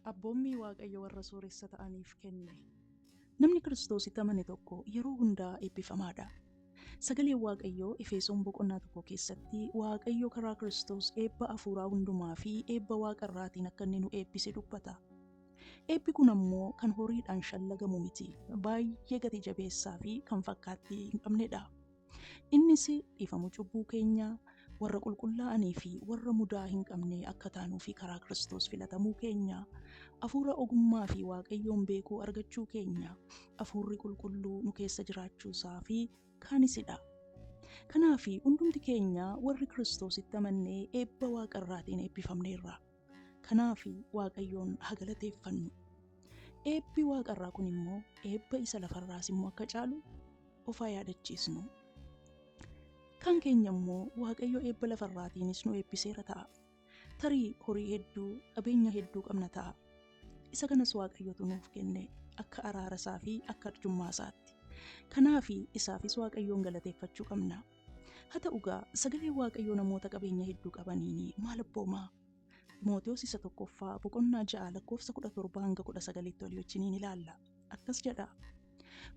Abboommii Waaqayyo warra sooressa ta'aniif kenne. Namni Kiristoositti amane tokko yeroo hundaa eebbifamaadha. Sagaleen Waaqayyoo Efeesoon boqonnaa tokko keessatti Waaqayyo karaa Kiristoos eebba afuuraa hundumaa fi eebba waaqa irraatiin akka inni nu eebbise dubbata. Eebbi kun ammoo kan horiidhaan shallagamu miti. Baay'ee gati jabeessaa fi kan fakkaattii hin qabnedha. Innis dhiifama cubbuu keenyaa warra qulqullaa'anii fi warra mudaa hin qabne akka taanuu fi karaa Kiristoos filatamuu keenya, afuura ogummaa fi Waaqayyoon beekuu argachuu keenya, afuurri qulqulluu nu keessa jiraachuu isaa fi kaanisidha. Kanaaf hundumti keenya warri Kiristoositti amannee eebba waaqa irraatiin eebbifamneerra. Kanaaf Waaqayyoon haa galateeffannu. Eebbi waaqarraa kun immoo eebba isa lafarraas immoo akka caalu of haa yaadachiisnu. Kan keenya immoo Waaqayyo eebba lafarraatiinis nu eebbiseera ta'a. Tarii horii hedduu, qabeenya hedduu qabna ta'a. Isa kanas Waaqayyotu nuuf kenne akka araara isaa fi akka arjummaa isaatti. Kanaaf isaafis Waaqayyoon galateeffachuu qabna. Haa ta'u egaa, Sagaleen Waaqayyoo namoota qabeenya hedduu qabaniin maal abbooma? Ximotewos Isa 1ffaa boqonnaa 6 lakkoofsa 17-19tti walii wajjiniin ilaalla. Akkas jedha,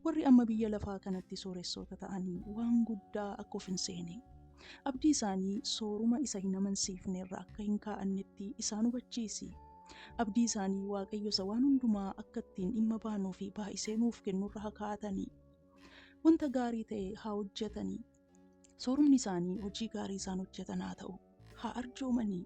Warri amma biyya lafaa kanatti sooressoota ta'an waan guddaa akka of hin seene, abdii isaanii sooruma isa hin amansiifne irra akka hin kaa'annetti isaan hubachiisi. Abdii isaanii Waaqayyo isa waan hundumaa akka ittiin dhimma baanuu fi baay'isee nuuf kennu irra haa kaa'atani. Wanta gaarii ta'e haa hojjetanii. Soorumni isaanii hojii gaarii isaan hojjetan haa ta'u. Haa arjoomanii.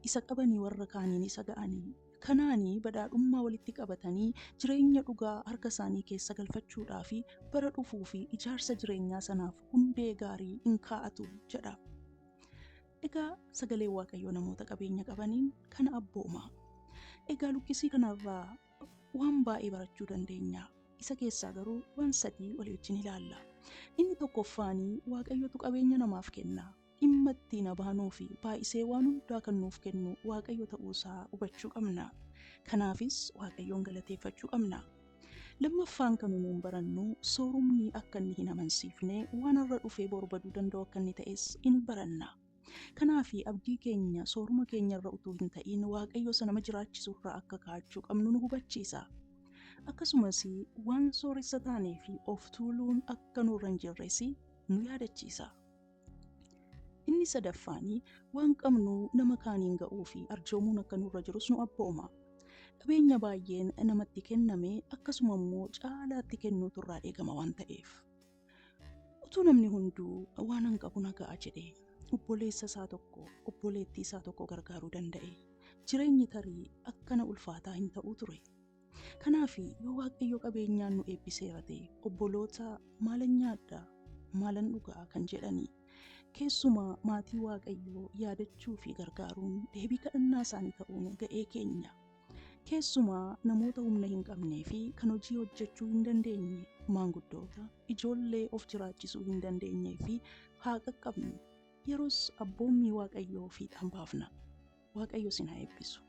Isa qabanii warra kaaniin isa ga'anii. Kanaanii badhaadhummaa walitti qabatanii jireenya dhugaa harka isaanii keessa galfachuudhaa fi bara dhufuu fi ijaarsa jireenyaa sanaaf hundee gaarii in kaa'atu jedha. Egaa sagalee Waaqayyoo namoota qabeenya qabaniin kana abbooma. Egaa luqqisii kanarraa waan baay'ee barachuu dandeenya. Isa keessaa garuu waan sadii walii wajjin ilaalla. Inni tokkoffaanii Waaqayyotu qabeenya namaaf kenna. Dhimma ittiin abaanuu fi baay'isee waan hundaa kan nuuf kennu Waaqayyo ta'uusaa hubachuu qabna. Kanaafis Waaqayyoon galateeffachuu qabna. Lammaffaan kan nuun barannu soorumni akka inni hin amansiifne waan har'a dhufee boru baduu danda'u akka inni ta'es in baranna. Kanaaf abdii keenya sooruma keenya irra utuu hin ta'iin Waaqayyo isa nama jiraachisu irraa akka kaa'achuu qabnu nu hubachiisa. Akkasumas waan sooressa taanee fi of tuuluun akka nurra hin jirres nu yaadachiisa. Inni sadaffaan waan qabnu nama kaaniin ga'uu fi arjoomuun akka nurra jirus nu abbooma. Qabeenya baay'een namatti kenname akkasuma immoo caalaatti kennuutu irraa eegama waan ta'eef. Utuu namni hunduu waan an qabu na ga'a jedhee obboleessa isaa tokko obboleettii isaa tokko gargaaruu danda'e jireenyi tarii akkana ulfaataa hin ta'uu ture. Kanaaf yoo waaqayyo qabeenyaan nu eebbiseera ta'e obboloota maalan nyaadha maalan dhugaa kan jedhani keessumaa maatii waaqayyoo yaadachuu fi gargaaruun deebii kadhannaa isaanii ta'uun ga'ee keenya. Keessumaa namoota humna hin qabnee fi kan hojii hojjechuu hin dandeenye, maanguddoota, ijoollee of jiraachisuu hin dandeenyee fi haa qaqqabnu. Yeros abboommii Waaqayyoo fiixaan baafna. Waaqayyo sin haa eebbisu.